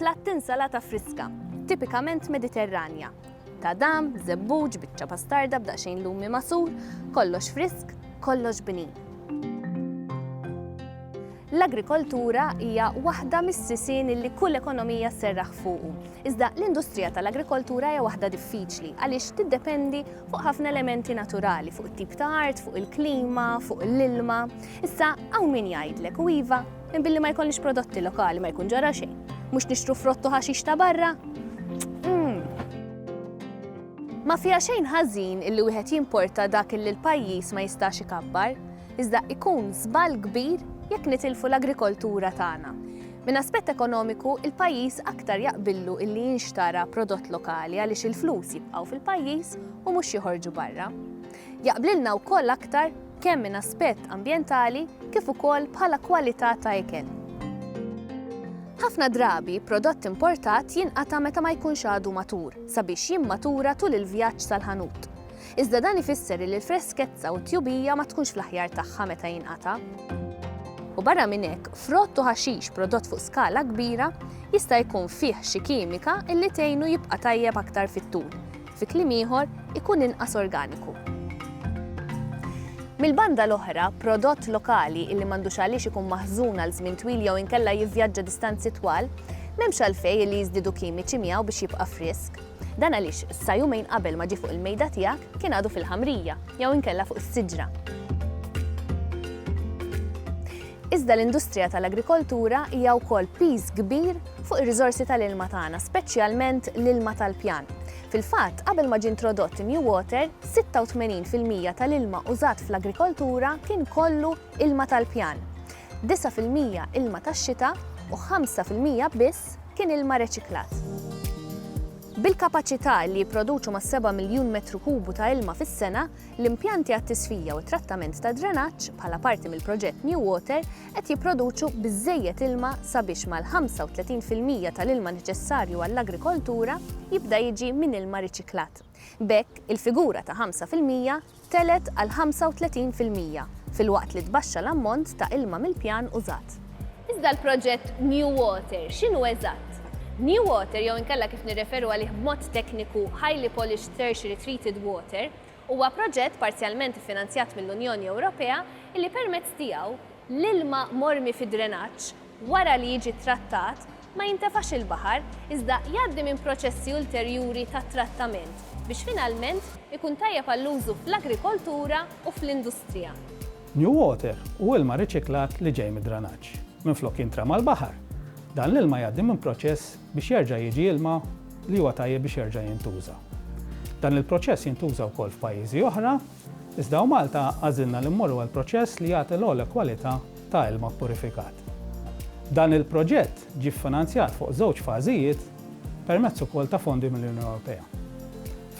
Platt insalata friska, tipikament Mediterranja. Tadam, żebbuġ, biċċa pastarda b'daqsxejn lumi masur, kollox frisk, kollox bnin. L-agrikoltura hija waħda mis-sisien li kull ekonomija sserraħ fuqu. Iżda l-industrija tal-agrikoltura hija waħda diffiċli għaliex tiddependi fuq ħafna elementi naturali, fuq it-tip ta' art, fuq il-klima, fuq l-ilma. Issa hawn min jgħidlek u iva Minn billi ma jkollix prodotti lokali ma jkun ġara xejn. Mhux nixtru frottu ħaxix ta' barra? Hmm. Ma fija xejn ħażin illi wieħed jimporta dak illi l-pajjiż ma jistax ikabbar, iżda ikun żball kbir jekk nitilfu l-agrikoltura tagħna. Minn aspett ekonomiku, il-pajjiż aktar jaqbillu illi jinxtara prodott lokali għaliex il-flus jibqgħu fil-pajjiż u mhux joħorġu barra. Jaqblilna wkoll aktar kemm minn aspett ambjentali kif ukoll bħala kwalità ta' ikel. Ħafna drabi, prodott importat jinqata' meta ma jkunx għadu matur, sabiex jimmatura tul il-vjaġġ sal-ħanut. Iżda dan ifisser illi l-freskezza u t-tjubija ma tkunx fl-aħjar tagħha meta jinqata'. U barra minn hekk, frott u ħaxix prodott fuq skala kbira jista' jkun fih xi kimika illi tgħinu jibqa' tajjeb aktar fit-tul, Fi kliem ieħor, ikun inqas organiku. Mill-banda l-oħra, prodott lokali illi m'għandux għaliex ikun maħżun għal żmien twil jew inkella jivvjaġġa distanzi twal, m'hemmx għalfejn illi jiżdiedu kimiċi miegħu biex jibqa' frisk. Dan għaliex sa jumejn qabel ma ġie fuq il-mejda tiegħek kien għadu fil-ħamrija jew inkella fuq is-siġra. Iżda l-industrija tal-agrikoltura hija wkoll piż kbir fuq ir-riżorsi tal-ilma tagħna, speċjalment l-ilma tal-pjan. Fil-fatt, qabel ma ġie introdott in-New Water, 86 fil-mija tal-ilma użat fl-agrikoltura kien kollu ilma tal-pjan, 9 fil-mija ilma tax-xita u 5 fil-mija biss kien ilma reċiklat. Bil-kapaċità li jipproduċu mas-seba' miljun metru kubu ta' ilma fis-sena, L-impjanti għat-tisfija u t-trattament tad-drenaġġ, bħala parti mill-proġett New Water, qed jipproduċu biżżejjed ilma sabiex mal-35 fil-mija tal-ilma neċessarju għall-agrikoltura jibda jiġi minn ilma riċiklat. B'hekk, il-figura ta' 5 fil-mija tgħelet għal 35 fil-mija, filwaqt li tbaxxa l-ammont ta' ilma mill-pjan użat. Iżda l-proġett New Water x'inhu eżatt? New Water, jew inkella kif nirreferu għalih b'mod tekniku Highly Polished Tertiary Treated Water, huwa proġett parzjalment iffinanzjat mill-Unjoni Ewropea li permezz tiegħu, l-ilma mormi fid-drenaġġ wara li jiġi ttrattat ma jintefax il-baħar iżda jgħaddi minn proċessi ulterjuri ta' trattament biex finalment ikun tajjeb għall-użu fl-agrikoltura u fl-industrija. New water hu ilma riċiklat li ġej mid-drenaġġ. Minflok jintrema l-baħar, dan l-ilma jgħaddi minn proċess biex jerġa' jiġi ilma li huwa tajjeb biex jerġa' jintuża. Dan il-proċess jintuża wkoll f'pajjiżi oħra, iżda hawn Malta għażilna li mmorru għal proċess li jagħti l-ogħla kwalità ta' ilma ppurifikat. Dan il-proġett ġie ffinanzjat fuq żewġ fażijiet permezz ukoll ta' fondi mill-Unjoni Ewropea.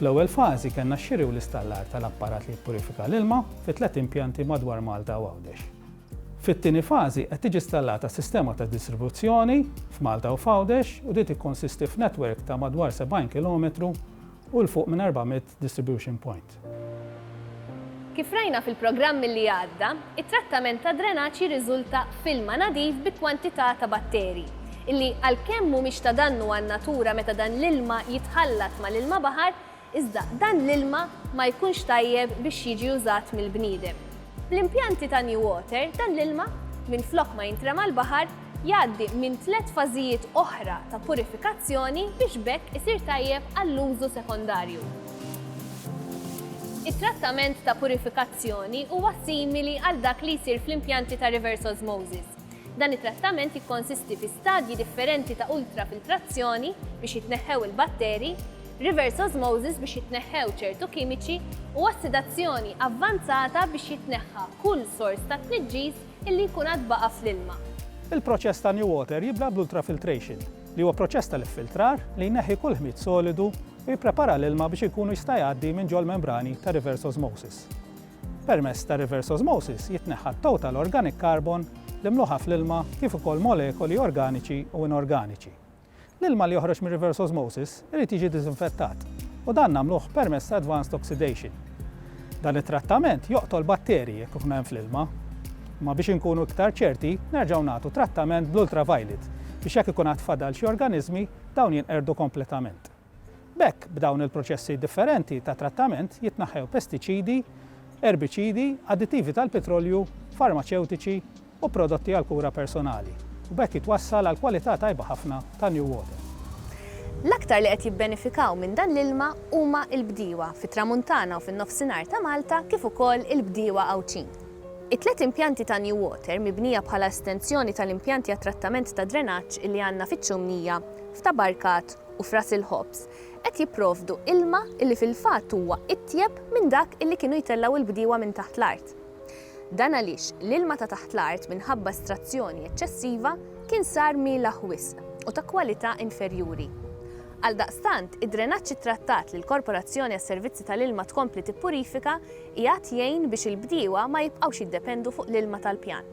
Fl-ewwel fażi kellna x-xiri u l-istallar tal-apparat li jippurifika l-ilma fi tliet impjanti madwar Malta u Għawdex. Fit-tieni fażi qed tiġi stallata sistema ta' distribuzzjoni f'Malta u f'Għawdex u din tikkonsisti f'netwerk ta' madwar 70 kilometru u 'l fuq minn 400 distribution point. Kif rajna fil-programm li għadda, it-trattament tad-drenaġġ jirriżulta f'ilma nadif bi kwantità ta' batterji, illi għalkemm mhumiex ta' dannu għan-natura meta dan l-ilma jitħallat mal-ilma baħar, Iżda dan l-ilma ma jkunx tajjeb biex jiġi użat mill-bniedem. Bl-impjanti ta' New Water dan l-ilma, minflok ma jintrema' l-baħar, jgħaddi minn tliet fażijiet oħra ta' purifikazzjoni biex b'hekk isir tajjeb għall-użu sekondarju. It-trattament ta' purifikazzjoni huwa simili għal dak li jsir fl-impjanti ta' reverse osmosis. Dan it-trattament jikkonsisti fi stadji differenti ta' ultrafiltrazzjoni biex jitneħħew il-batteri, reverse osmosis biex jitneħħew ċertu kimiċi u ossidazzjoni avvanzata biex jitneħħa kull sors ta' tniġġis illi jkun għad baqa' fl-ilma. Il-proċess ta' NewWater jibda bl-ultrafiltration, li huwa proċess tal-iffiltrar li jneħħi kull ħmid solidu u jipprepara l-ilma biex ikunu jista' jgħaddi minn ġol-membrani ta' reverse osmosis. Permezz ta' reverse osmosis jitneħħa t-total organic carbon li mluħa fl-ilma kif ukoll molekoli organiċi u inorganiċi. L-ilma li joħroġ mir-reverse osmosis irid jiġi diżinfettat u dan nagħmluh permezz ta' advanced oxidation. Dan it-trattament joqtol batterji jekk ikun hemm fl-ilma. Imma biex inkunu iktar ċerti, nerġgħu nagħtu trattament bl-ultraviolet biex jekk ikun għad fadal xi organiżmi, dawn jinqerdu kompletament. B'hekk, b'dawn il-proċessi differenti ta' trattament jitnaħħew pestiċidi, erbiċidi, additivi tal-pitrolju, farmaċewtiċi, u prodotti għall-kura personali, u b'hekk jitwassal għal kwalità tajba ħafna ta' New Water. L-aktar li qed jibbenefikaw minn dan l-ilma huma l-bdiewa fit-Tramuntana u fin-Nofsinhar ta' Malta kif ukoll il-bdiewa Għawdxin. It-tliet impjanti ta' New Water mibnija bħala estensjoni tal-impjanti għat-trattament tad-drenaġġ li għandna fiċ-Ċumnija, f'Tabarkat u f'Ras il-Ħobż qed jipprovdu ilma li fil-fatt huwa itjeb minn dak li kienu jtellgħu l-bdiewa minn taħt l-art. Dan għaliex l-ilma ta' taħt l-art minħabba estrazzjoni eċċessiva kien sar mielaħ wisq u ta' kwalità inferjuri. Għaldaqstant, id-drenaġġ ittrattat li l-Korporazzjoni għas-Servizzi tal-Ilma tkompli tippurifika qiegħed jgħin biex il-bdiewa ma jibqgħux jiddependu fuq l-ilma tal-pjan.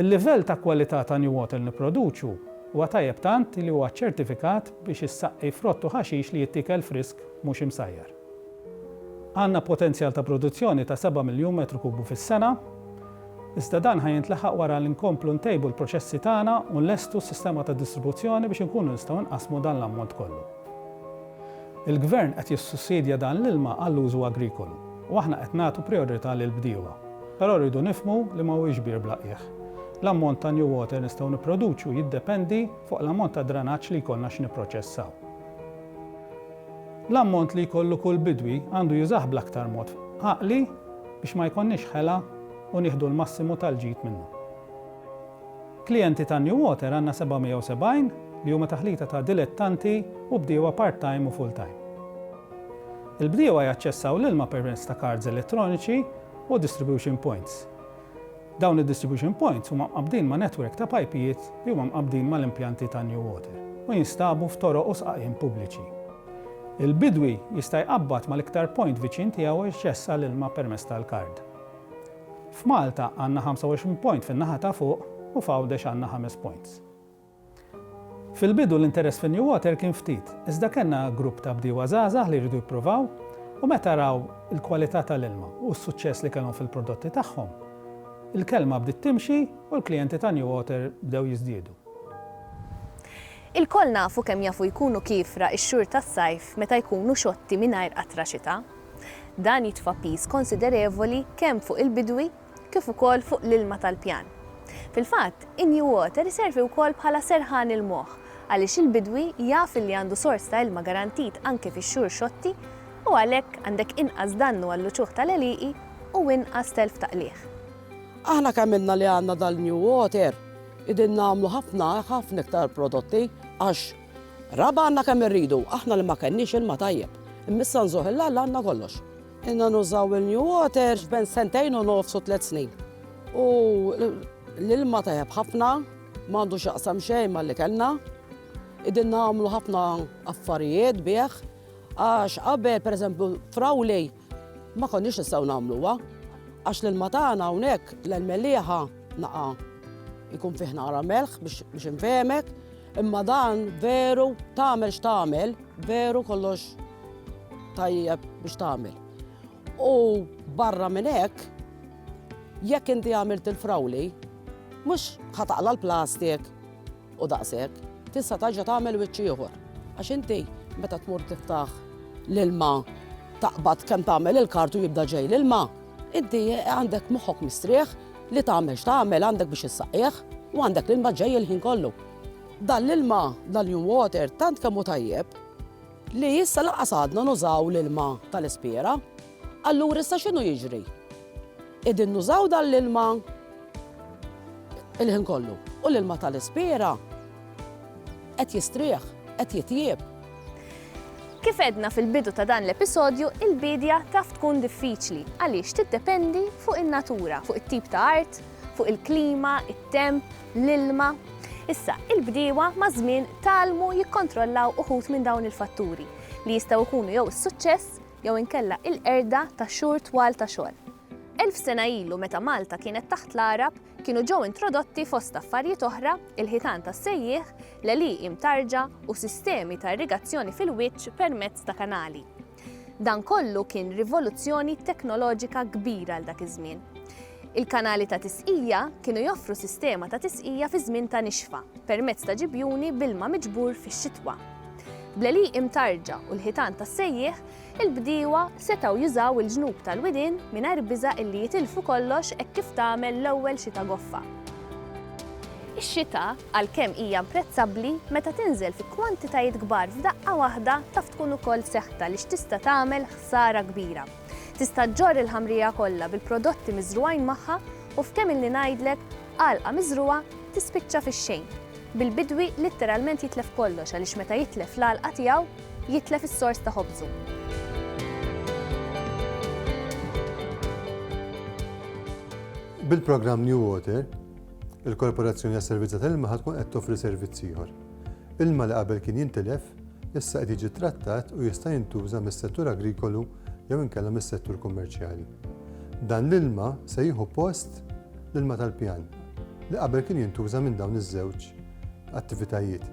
Il-livell ta' kwalità ta' NewWater li nipproduċu huwa tajjeb tant li huwa ċċertifikat biex issaqqi frott u ħaxix li jittiekel frisk mhux imsajjar. Għandna potenzjal ta' produzzjoni ta' seba' miljun metru kubu fis-sena, iżda dan ħa jintlaħaq wara li nkomplu ntejbu l-proċessi tagħna u nlestu s-sistema ta' distribuzzjoni biex inkunu nistgħu nqassmu dan l-ammont kollu. Il-Gvern qed jissussidja dan l-ilma għall-użu agrikolu u aħna qed nagħtu prijorità lill-bdiewa. Però rridu nifhmu li ma huwiex bir bla qiegħ. L-ammont ta' new water nistgħu nipproduċu jiddependi fuq l-ammont ta' dranaġġ li jkollna x'nipproċessaw. L-ammont li jkollu kull bidwi għandu jużah bl-aktar mod għaqli biex ma jkollniex ħela u nieħdu l-massimu tal-ġid minnu. Klijenti ta' New Water għandna 770 li huma taħlita ta' dilettanti u bdiewa part-time u full-time. Il-bdiewa jaċċessaw l-ilma permezz ta' kards elettroniċi u distribution points. Dawn id-distribution points huma mqabbdin ma' netwerk ta' pajpijiet li huma mqabbdin mal-impjanti ta' New Water u jinstabu f'toroq u sqaqien pubbliċi. Il-bidwi jista' jqabbad mal-iktar point viċin tiegħu u jċessa l-ilma permezz tal-kard. F'Malta għandna 25 point fin-naħa ta' fuq u f'Għawdex għandna ħames points. Fil-bidu l-interess fin-New Water kien ftit, iżda kellna grupp ta' bdiewa żgħażagħ li jridu jippruvaw u meta raw il-kwalità tal-ilma u s-suċċess li kellhom fil-prodotti tagħhom, il-kelma bdiet timxi u l-klijenti ta' New Water bdew jiżdiedu. Ilkoll nafu kemm jafu jkunu kiefra x-xhur tas-sajf meta jkunu xotti mingħajr qatra xita. Dan jitfa' piż konsiderevoli kemm fuq il-bidwi kif ukoll fuq l-ilma tal-pjan. Fil-fatt, in-New Water iservi wkoll bħala serħan il-moħħ għaliex il-bidwi jaf illi għandu sors ta' ilma garantit anke fix-xhur xotti u għalhekk għandek inqas dannu għall-uċuħ tal-għelieqi u inqas telf ta' qligħ. Aħna kemm ilna li għandna dal-New Water, qegħdin nagħmlu ħafna, ħafna iktar prodotti għax raba' għandna kemm irridu, aħna li ma kenniex ilma tajjeb, imma issa nżuħ il-Alla għandna kollox. Inna nużaw il-new water ben sentejn u nofs u tliet snin. U l-ilma tajab ħafna, mandu xaqsam xejn ma li kellna. Idin namlu ħafna affarijiet bieħ, għax qabel, per eżempju, frawlej, ma konniex nistgħu nagħmluha għax l-ilma tagħna hawnhekk l-melliħa naqa' jkun fih nara melħ biex infehmek Imma dan veru tagħmel x'tagħmel, veru kollox tajjeb biex tagħmel. U barra minn hekk, jekk inti għamilt il-frawli, mhux ħataqla l-plastik u daqshekk, tista' taġa tagħmel wiċċ ieħor. Għax inti meta tmur tiftaħ l-ilma taqbad kemm tagħmel il-kartu jibda ġej l-ilma, inti għandek moħħok mistrieħ Li tagħmel x'tagħmel għandek biex issaqqieh u għandek l-ilma ġej il-ħin kollu. Dan l-ilma, dan l-New Water, tant kemm hu tajjeb li issa lanqas għadna nużaw l-ilma tal-ispjera. Allura issa x'inhu jiġri? Qegħdin nużaw dan l-ilma il-ħin kollu u l-ilma tal-ispjera Qed jistrieħ, qed jitjieb. Kif għedna fil-bidu ta' dan l-episodju, il-biedja taf tkun diffiċli għaliex tiddependi fuq in-natura, fuq it-tip ta' art, fuq il-klima, it-temp, l-ilma. Issa, il-bdiewa maż-żmien talmu jikkontrollaw uħud minn dawn il-fatturi li jistgħu jkunu jew is-suċċess jew inkella il-qerda ta' xhur twal ta' xogħol. Elf sena ilu meta Malta kienet taħt l-Għarab, Kienu ġew introdotti fost affarijiet oħra il-ħitan tas-sejjieħ, l-għelieqi mtarġa u sistemi ta' irrigazzjoni fil-wiċċ permezz ta' kanali. Dan kollu kien rivoluzzjoni teknoloġika kbira għal dak iż-żmien. Il-kanali ta' tisqija kienu joffru sistema ta' tisqija fi żmien ta' nixfa permezz ta' ġibjuni bilma miġbur fix-xitwa. Bl-għelieqi mtarġa u l-ħitan tas-sejjieħ, il-bdiewa setgħu jużaw il-ġnub tal-widien mingħajr biża' illi jitilfu kollox hekk kif tagħmel l-ewwel xita goffa. Ix-xita, għalkemm hija imprezzabbli, meta tinżel fi kwantitajiet kbar f'daqqa waħda taf tkun ukoll seħta għaliex tista' tagħmel ħsara kbira. Tista' ġġorr il-ħamrija kollha bil-prodotti miżrugħin magħha u f'kemm ilni ngħidlek, għalqa miżrugħa tispiċċa fix-xejn, bil-bidwi litteralment jitlef kollox għaliex meta jitlef l-għalqa tiegħu, jitlef is-sors ta' ħobżu. Bil-programm New Water, il-Korporazzjoni għas-Servizz tal-Ilma ħad tkun qed toffri servizz ieħor. Ilma li qabel kien jintilef, issa qed jiġi trattat u jista' jintuża mis-settur agrikolu jew inkella mis-settur kummerċjali. Dan l-ilma se jieħu post l-ilma tal-pjan li qabel kien jintuża minn dawn iż-żewġ attivitajiet.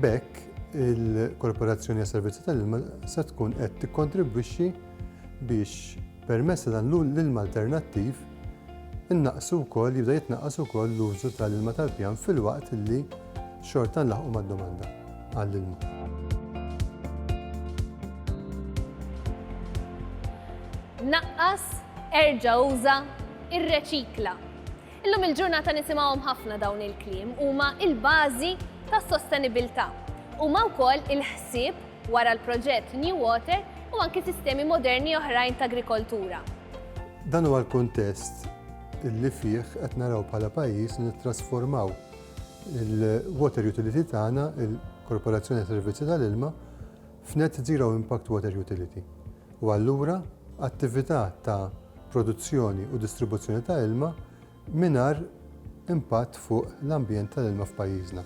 B'hekk, il-Korporazzjoni għas-Servizzi tal-Ilma se tkun qed tikkontribwixxi biex permezz ta' dan l-ilma alternattiv innaqsu wkoll jibda jitnaqqas ukoll l-użu tal-ilma tal-pjan filwaqt li xorta nlaħqu mad-domanda għall-ilma. naqqas, erġa' uża, irreċikla. Illum il-ġurnata nisimgħuhom ħafna dawn il-kliem, huma l-bażi tas-sostenibilità. Huma wkoll il-ħsieb wara l-proġett New Water u anki sistemi moderni oħrajn ta' agrikoltura. Dan huwa l-kuntest li fih qed naraw bħala pajjiż nittrasformaw il-water utility tagħna, il-Korporazzjoni għas-Servizzi tal-Ilma, f'Net Zero Impact Water Utility u allura attività ta' produzzjoni u distribuzzjoni ta' ilma mingħajr impatt fuq l-ambjent tal-ilma f'pajjiżna.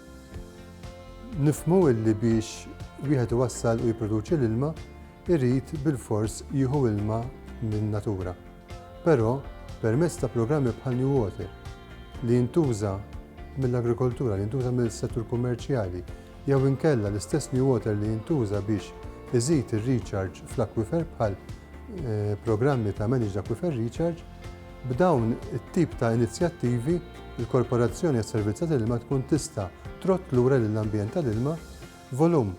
Nifhmu li biex wieħed iwassal u jipproduċi l-ilma, irid bilfors jieħu ilma min-natura. Però, permezz ta' programmi bħal New Water, li jintuża mill-agrikoltura, li jintuża mill-settur kummerċjali, jew inkella l-istess New Water li jintuża biex iżid ir-recharge fl-akwifer bħal eh, programmi ta' Managed Aquifer Recharge, b'dawn it-tip ta' inizjattivi il-Korporazzjoni għas-Servizz tal-Ilma tkun tista' trott lura lill-ambjent tal-ilma volum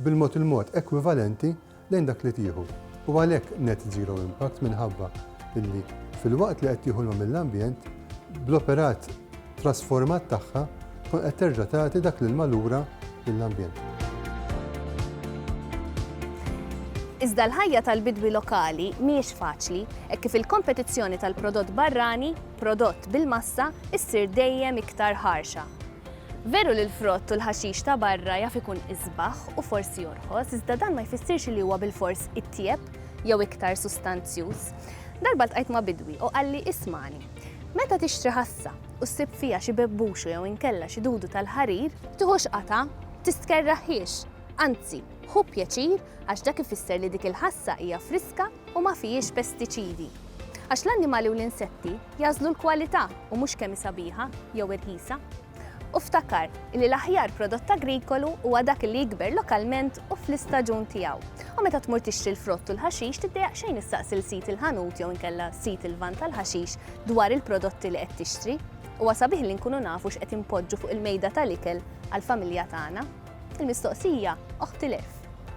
bil-mod il-mod ekwivalenti lejn dak li tieħu u għalhekk net zero impact minħabba li filwaqt li qed tieħu l-ma mill-ambjent, bl-operat trasformat tagħha tkun qed terġa' tagħti dak l-ilma lura lill-ambjent. Iżda l-ħajja tal-bidwi lokali mhijiex faċli hekk kif il-kompetizzjoni tal-prodott barrani, prodott bil-massa, issir dejjem iktar ħarxa. Veru li l-frott u l-ħaxix ta' barra jaf ikun isbaħ u forsi jorħos, iżda dan ma jfissirx li huwa bilfors itjieb jew iktar sustanzjuż. Darba ltqajt ma' bidwi u qalli ismagħni, meta tixtri ħassa u ssib fiha xi bebbuxu jew inkella xi dudu tal-ħarir, tiħux qatgħa, tistkerraħhiex, anzi, ħu pjaċir għax dak ifisser li dik il-ħassa hija friska u ma fihiex pestiċidi. Għax l-annimali u l-insetti jagħżlu l-kwalità u mhux kemm hi sabiħa jew irħisa. U ftakar li l-aħjar prodott agrikolu huwa dak li jikber lokalment u fl-istaġun tiegħu. U meta tmur tixtri l-frott u l-ħaxix tiddejjaq xejn issaqsi l sid il-ħanut jew inkella sid il-van tal-ħaxix dwar il-prodotti li qed tixtri. Huwa sabiħ li nkunu nafu x'qed inpoġġu fuq il-mejda tal-ikel għall-familja tagħna. Il-mistoqsija oħtilef.